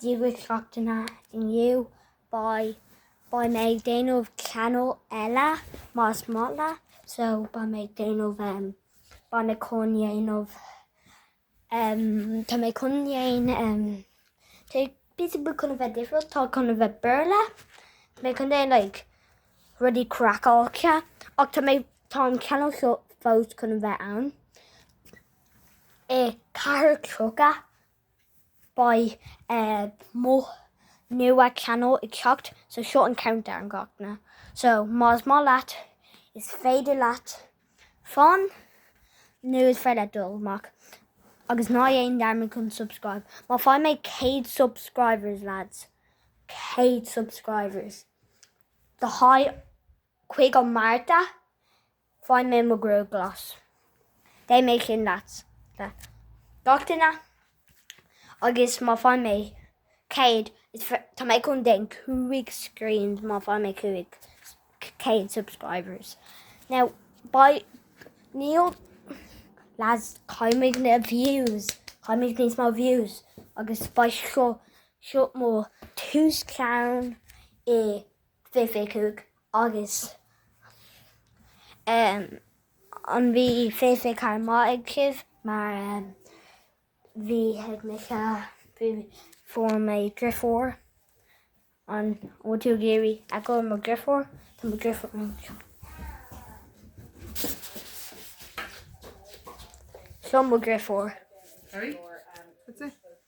Dia daoibh gach duine inniu, beidh mé ag déanamh channel eile más maith leat so beidh mé ag déanamh em beidh mé chun dhéanamh em tá mé chun dhéan em tá busy bu chun a bheith difriúil tá chun a bheith Béarla tá mé chun déan like rudaí craiceáilte ach tá mé tá an channel seo fós chun a bheith ann i 4:30 beidh mo nua channel ag teacht so seo an countdown gach duine so más maith leat is féidir leat fan nó is féidir leat dul amach agus ná dhéan dearmad chun subscribe má faigh mé 100 subscribers lads 100 subscribers do haghaidh 5ú Márta Faigh mé mo ghruaig glas. Beidh mé chinn leat le gach duine agus má faighim mé céad is féidir, tá mé chun déan cúig scrín má faighim mé cúig céad subscribers. Now beidh, níl, lads caithfimid na views, caithfimid níos mó views agus beidh seo, seo mo tús ceann i fiche fiche cúig agus an bhí fiche fiche ceathair maith ag sibh mar bhí ag mise bhí fuair mé driofúr an bhfuil tú ag iarraidh a go mo driofúr tá mo driofúr anseo seo mo driofúr sorry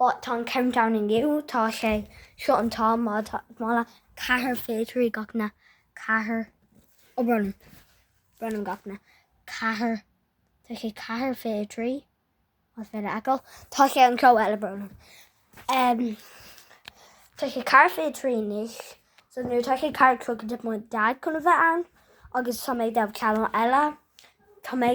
But tá an countdown inniu, tá sé, seo an t-am, má tá, má le ceathair fiche trí gach duine ceathair, ó brón orm, brón orm gach duine, tá sé ceathair fiche trí, más féidir leat feiceáil, tá sé an treo eile brón orm, tá sé ceathair fiche trí anois, so nuair tá sé ceathair tríocha tá mo dad chun a bheith ann, agus tá mé ag déanamh channel eile, tá mé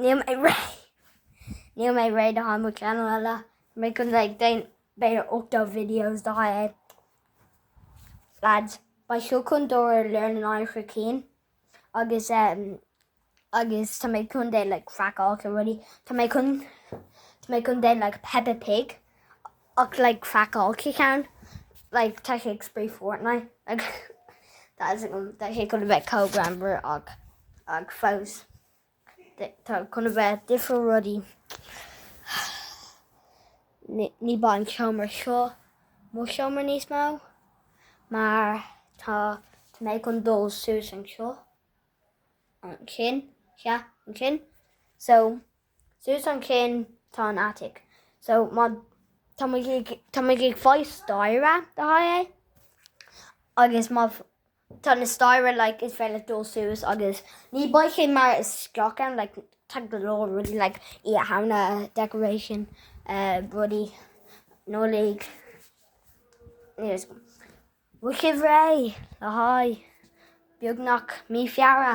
Níl mé réidh. Níl mé réidh le haghaidh mo channel eile. Tá mé chun déan b'fhéidir 80 videos le haghaidh. Lads, beidh seo chun dóir ar leir na náir chur cinn. Agus um, agus tá mé chun déan like, craiceáilte rudaí. Tá mé chun tá mé chun déan like, Peppa Pig Ach like craiceáilte ceann like tá sé ag spraoi Fortnite like tá sé chun tá sé chun a bheith chomh greannmhar ach ach fós tá chun a bheith difriúil rudaí ní beidh an seomra seo mo seomra níos mó mar tá tá mé chun dul suas anseo ansin yeah ansin so Suas an chinn tá an attic. So má tá muid ag tá muid ag fáil staighre le haghaidh é agus má tá na staighre like is féidir leat dul suas agus ní beidh sé mar isteach ann like tá go leor rudaí like Oíche Shamhna decoration rudaí Nollaig is mhaith sibh réidh le haghaidh beagnach mí Feabhra.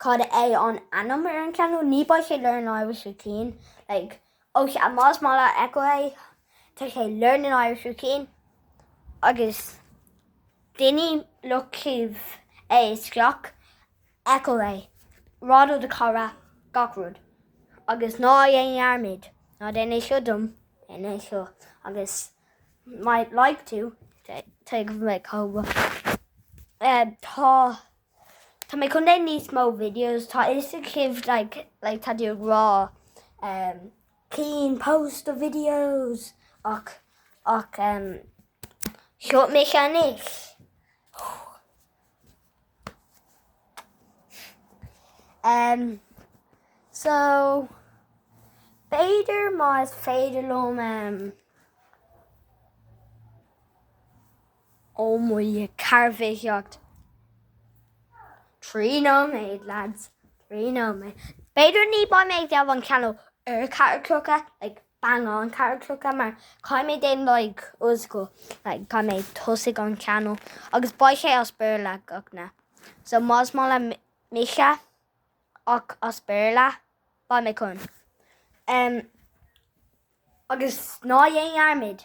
cad é an ainm ar an channel ní beidh sé learn Irish with Cian like ó sea más maith leat check out é tá sé learning Irish with Cian agus daoine look up é is check out é rá do do chara gach rud agus ná dhéan dhearmad ná déan é seo dom déan é seo agus might like to tuigim like how tá Tá mé chun leith níos mó videos, tá fhios agaibh like like tá tú ag rá ehm Cian post the videos ach ach ehm seo mé cheannaigh ehm so b'fhéidir má is féidir liom ehm. Ó Muire, ceathair fiche seacht. Trí nóiméad, lads. Trí nóiméad. B'fhéidir ní beidh mé ag déanamh an channel ar ceathair a chlog, like bang on ceathair a chlog, mar caithfidh mé déanamh like old school, like caithfidh mé tosaigh an channel agus beidh sé as Béarla gach na. So más maith le mise ach as Béarla, beidh mé chun. Em, agus ná dhéan dearmad,